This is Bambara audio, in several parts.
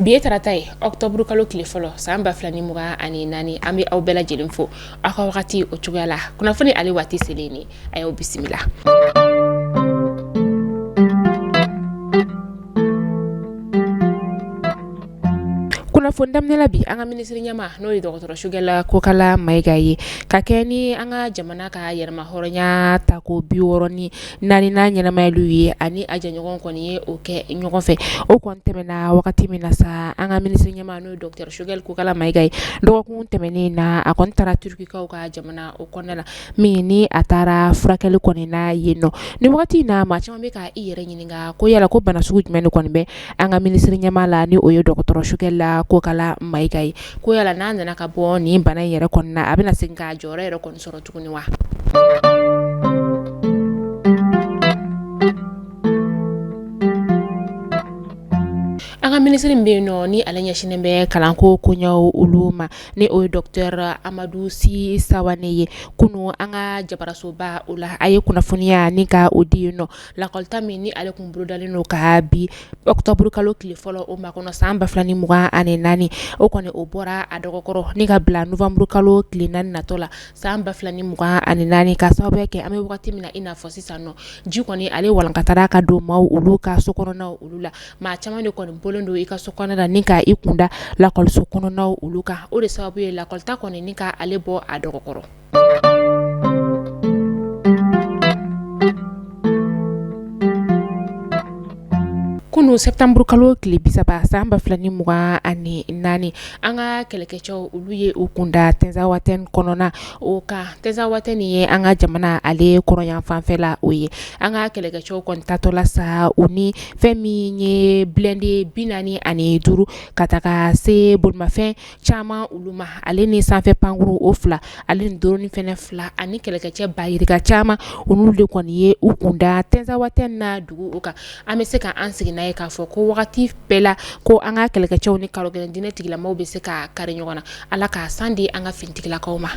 bi ye tarata ye ɔktɔburu kalo tile fɔlɔ san ba fila ni mugan ani naani an bɛ aw bɛɛ lajɛlen fo aw ka wagati o cogoya la kunnafoni ale waati selen ni a y'aw bisimila kunnafoni daminɛ bi an ka minisiri ɲɛma n'o ye dɔgɔtɔrɔ sogɛla kokala mayiga ye ka kɛ ni an ka jamana ka yɛrɛma hɔrɔnya ta ko bi wɔɔrɔ ni naaninan ɲɛnamayaliw ye ani a jɛɲɔgɔn kɔni ye o kɛ ɲɔgɔn fɛ o kɔni tɛmɛna wagati min na sa an ka minisiri ɲɛma n'o ye dɔgɔtɔrɔ sogɛla kokala mayiga ye dɔgɔkun tɛmɛnen in na a kɔni taara turukikaw ka jamana o kɔnɔna la min ni a taara furakɛli kɔni na yen nɔ ni wagati in na maa caman bɛ ka i yɛrɛ ɲininka ko yala ko bana sugu jumɛn de kɔni bɛ an ka minisiri ɲɛma la ni o ye dɔgɔtɔrɔ sogɛla kokala mayiga ye ko yala n'a nana ka bɔ nin bana in yɛrɛ kɔni na a bɛna se k'a jɔyɔrɔ yɛrɛ kɔni sɔrɔ tuguni wa an ka minisiri min bɛ yen nɔ ni ale ɲɛsinnen bɛ kalanko koɲɛw olu ma ni o ye dɔkitɛri amadu si sawane ye kunun an ka jabarasoba o la a ye kunnafoniya ni ka o di yen nɔ lakɔlita min ni ale tun bolodalen don ka bi ɔktɔburu kalo tile fɔlɔ o ma kɔnɔ san ba fila ni mugan ani naani o kɔni o bɔra a dɔgɔ kɔrɔ ni ka bila nowanburu kalo tile naani natɔ la san ba fila ni mugan ani naani ka sababuya kɛ an bɛ wagati min na i n'a fɔ sisan nɔ ji kɔni ale walankatara ka don maaw olu ka so kɔnɔnaw olu la maa caman de kɔni bɔlen don i ka so kɔnɔ la ni k' i kunda lakɔliso kɔnɔnaw olu kan o de sababu ye lakɔlita kɔni ni k'ale bɔ a dɔgɔ kɔrɔ kunun sɛtanburu kalo tile bi saba san ba fila ni mugan ani naani an ka kɛlɛkɛcɛw olu ye u kunda tɛnzawatɛn kɔnɔna o kan tɛnzawatɛn nin ye an ka jamana ale kɔrɔnyanfan fɛ la o ye an ka kɛlɛkɛcɛw kɔni taatɔ la sa u ni fɛn min ye bilɛnde bi naani ani duuru ka taga se bolimafɛn caman olu ma ale ni sanfɛ pankurun o fila ale ni dɔrɔni fɛnɛ fila ani kɛlɛkɛcɛ ba yirika caman olu de kɔni ye u kunda tɛnzawatɛn na dugu o kan an bɛ se ka an sigi n'a ye k'a fɔ ko wagati bɛɛ la ko an ka kɛlɛkɛcɛw ni karogɛlɛn diinɛ tigilamaw bɛ se ka kari ɲɔgɔn na ala ka san di an ka finitigilakaw ma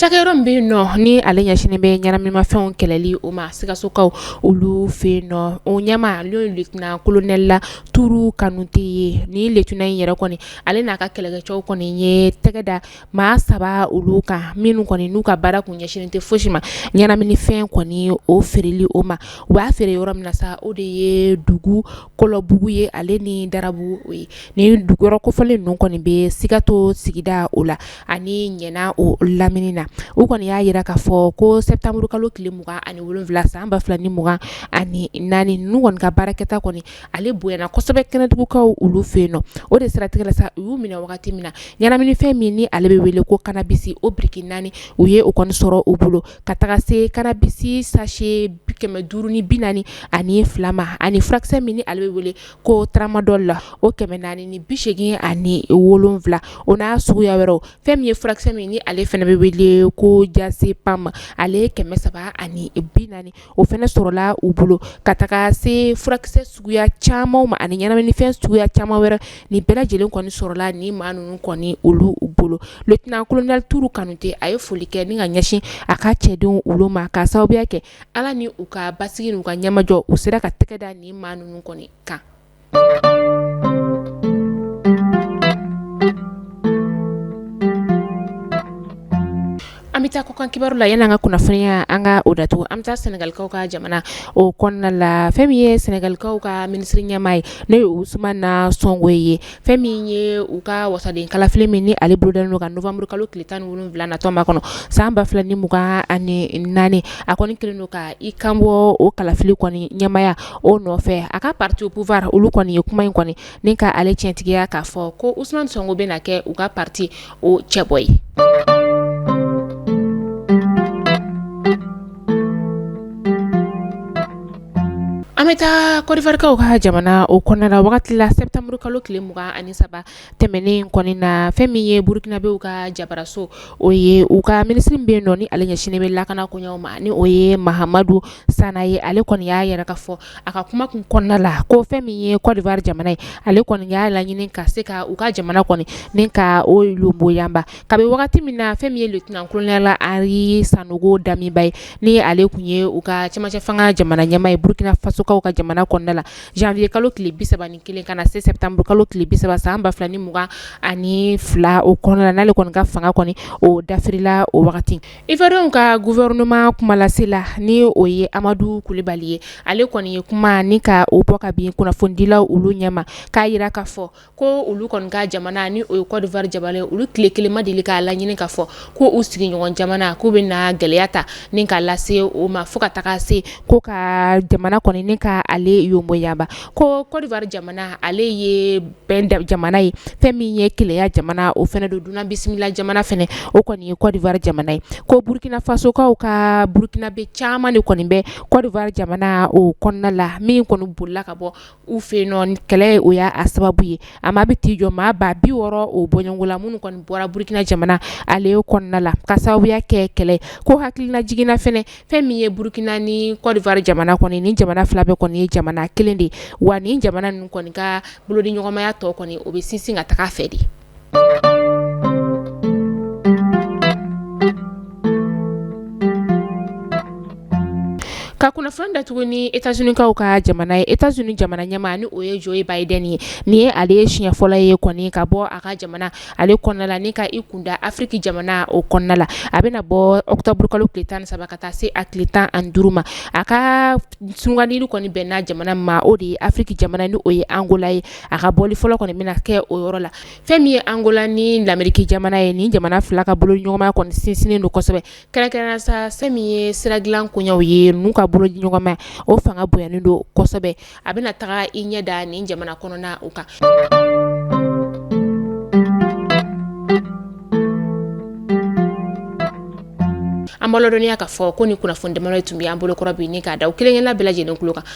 cakɛyɔrɔ min bɛ yen nɔ ni ale ɲɛsinnen bɛ ɲɛnaminimafɛnw kɛlɛli o ma sikasokaw olu fɛ yen nɔ o ɲɛma ye letɛna kolonɛla turu kanute ye ni letɛna in yɛrɛ kɔni ale n'a ka kɛlɛkɛcɛw kɔni ye tɛgɛda maa saba olu kan minnu kɔni n'u ka baara kun ɲɛsinnen tɛ fosi ma ɲɛnaminifɛn kɔni o feereli o ma u b'a feere yɔrɔ min na sa o de ye dugu kɔlɔbugu ye ale ni darabugu o ye ni dugu yɔrɔ kofɔlen ninnu kɔni bɛ sikaso sigida o la ani ɲɛna o lamini na u kɔni y'a jira k'a fɔ ko sɛtanburukalo tile mugan ani wolonwula san ba fila ni mugan ani naani ninnu kɔni ka baarakɛta kɔni ale bonyana kosɛbɛ kɛnɛdugukaw olu fɛ yen nɔ o de siratigɛ la sa u y'u minɛ wagati min na ɲɛnaminifɛn min ni ale bɛ wele ko kannabisi o biriki naani u ye o kɔni sɔrɔ u bolo ka taga se kannabisi sachet 500 ni 40 ani fila ma ani furakisɛ min ni ale bɛ wele ko tramadol la o 400 ni 80 ani wolonwula o n'a suguya wɛrɛw fɛn min ye furakisɛ min ni ale fɛnɛ bɛ wele ko diazepam ale 300 ani 40 o fɛnɛ sɔrɔla u bolo ka taga se furakisɛ suguya caman ma ani ɲɛnaminifɛn suguya caman wɛrɛ ni bɛɛ lajɛlen kɔni sɔrɔla ni maa ninnu kɔni olu bolo lieutenant colonel turu kanute a ye foli kɛ ni ka ɲɛsin a ka cɛdenw olu ma ka sababuya kɛ ala ni u ka basigi n'u ka ɲɛmajɔ u sera ka tɛgɛ da ni maa ninnu kɔni kan An bɛ taa kɔkan kibaru la yan'an ka kunnafoniya an ka o datugu an bɛ taa senegalikaw ka jamana o kɔnɔna la fɛn min ye senegalikaw ka minisiri ɲɛmaa ye n'o ye Ousmane Sonko ye fɛn min ye u ka wasaden kalafili min ni ale bolodalen don ka nowanburu kalo tile tan ni wolonwula natɔ ma kɔnɔ san ba fila ni mugan ani naani a kɔni kɛlen don ka i kanbɔ o kalafili kɔni ɲɛmaaya o nɔfɛ a ka pati au pouvoir olu kɔni ye kuma in kɔni ni ka ale tiɲɛtigiya k'a fɔ ko Ousmane Sonko bɛ na kɛ u ka pati o cɛbɔ ye an bɛ taa kɔdiwarikaw ka jamana o kɔnɔna la wagati la sɛtanburu kalo tile mugan ani saba tɛmɛnen kɔni na fɛn min ye burukinabew ka jabaraso o ye u ka minisiri bɛ yen nɔ ni ale ɲɛsinnen bɛ lakana koɲɛw ma ni o ye mahamadu sana ye ale kɔni y'a jira k'a fɔ a ka kuma kun kɔnɔna la ko fɛn min ye kɔdiwari jamana ye ale kɔni y'a laɲini ka se ka u ka jamana kɔni ni ka o boyaba kabi wagati min na fɛn min ye lieutenant colonel Henri Sandaogo Damiba ye ni ale tun ye u ka cɛmancɛ fanga jamana ɲɛmaa ye burukinafasokaw ka jamana kɔnɔna la zanwiye kalo tile bi saba ni kelen ka na se sɛtanburu kalo tile bi saba san ba fila ni mugan ani fila o kɔnɔna la n'ale kɔni ka fanga kɔni o dafirila o wagati iwariyɛnw ka guwɛrinama kumalasela ni o ye amadu kulibali ye ale kɔni ye kuma ni ka o bɔ ka bin kunnafonidilaw olu ɲɛma k'a jira k'a fɔ Ko olu kɔni ka jamana ni o ye Côte d'Ivoire jamana olu tile kelen ma deli k'a laɲini ka fɔ ko u sigiɲɔgɔn jamana k'u bɛ na gɛlɛya ta ni k'a lase o ma fo ka taga se ko ka jamana kɔni ni ka ale yonboyaba ko Côte d'Ivoire jamana ale ye bɛn jamana ye fɛn min ye kelenya jamana o fɛnɛ don dunan bisimila jamana fɛnɛ o kɔni ye Côte d'Ivoire jamana ye ko burukinafasokaw ka burukinabɛ caman de kɔni bɛ Côte d'Ivoire jamana o kɔnɔna la min kɔni bolila ka bɔ u fɛ nɔ kɛlɛ o y'a sababu ye a maa bɛ t'i jɔ maa ba bi wɔɔrɔ o bɔɲɔgɔn na minnu kɔni bɔra burukina jamana ale kɔnɔna la ka sababuya kɛ kɛlɛ ko hakililajigin na fɛnɛ fɛn min ye burukina ni Côte d'Ivoire jamana kɔni ni jamana fila bɛɛ kɔni ye jamana kelen de ye wa ni jamana ninnu kɔni ka bolodiɲɔgɔnmaya tɔ kɔni o bɛ sinsin ka taga a fɛ de Ka kunnafoni datugu ni États-Unis kaw ka jamana ye États-Unis jamana ɲɛmaa ni o ye Joe Biden ye nin ye ale ye siɲɛ fɔlɔ ye kɔni ka bɔ a ka jamana ale kɔnɔna la ni ka i kunda afiriki jamana o kɔnɔna la a bɛna bɔ ɔkutɔburukalo tile tan ni saba ka taa se a tile tan ani duuru ma a ka sugandili kɔni bɛnna jamana ma o de ye afiriki jamana ni o ye Angola ye a ka bɔli fɔlɔ kɔni bɛna kɛ o yɔrɔ la fɛn min ye Angola ni lameriki jamana ye ni jamana fila ka bolo ɲɔgɔnma kɔni sinsinnen don kosɛbɛ kɛrɛnkɛrɛnnenya sa fɛn min ye sira dilan koyaw ye n'u ka bolo ɲɔgɔnmaya o fanga bonyanen don kosɛbɛ a bɛna taga i ɲɛ da nin jamana kɔnɔna o kan an b'aw ladɔnniya ka fɔ ko nin kunnafoni damadɔ ye tun bɛ an bolokɔrɔ bi ni k'a da aw kelenkelenna bɛɛ lajɛlen tulo kan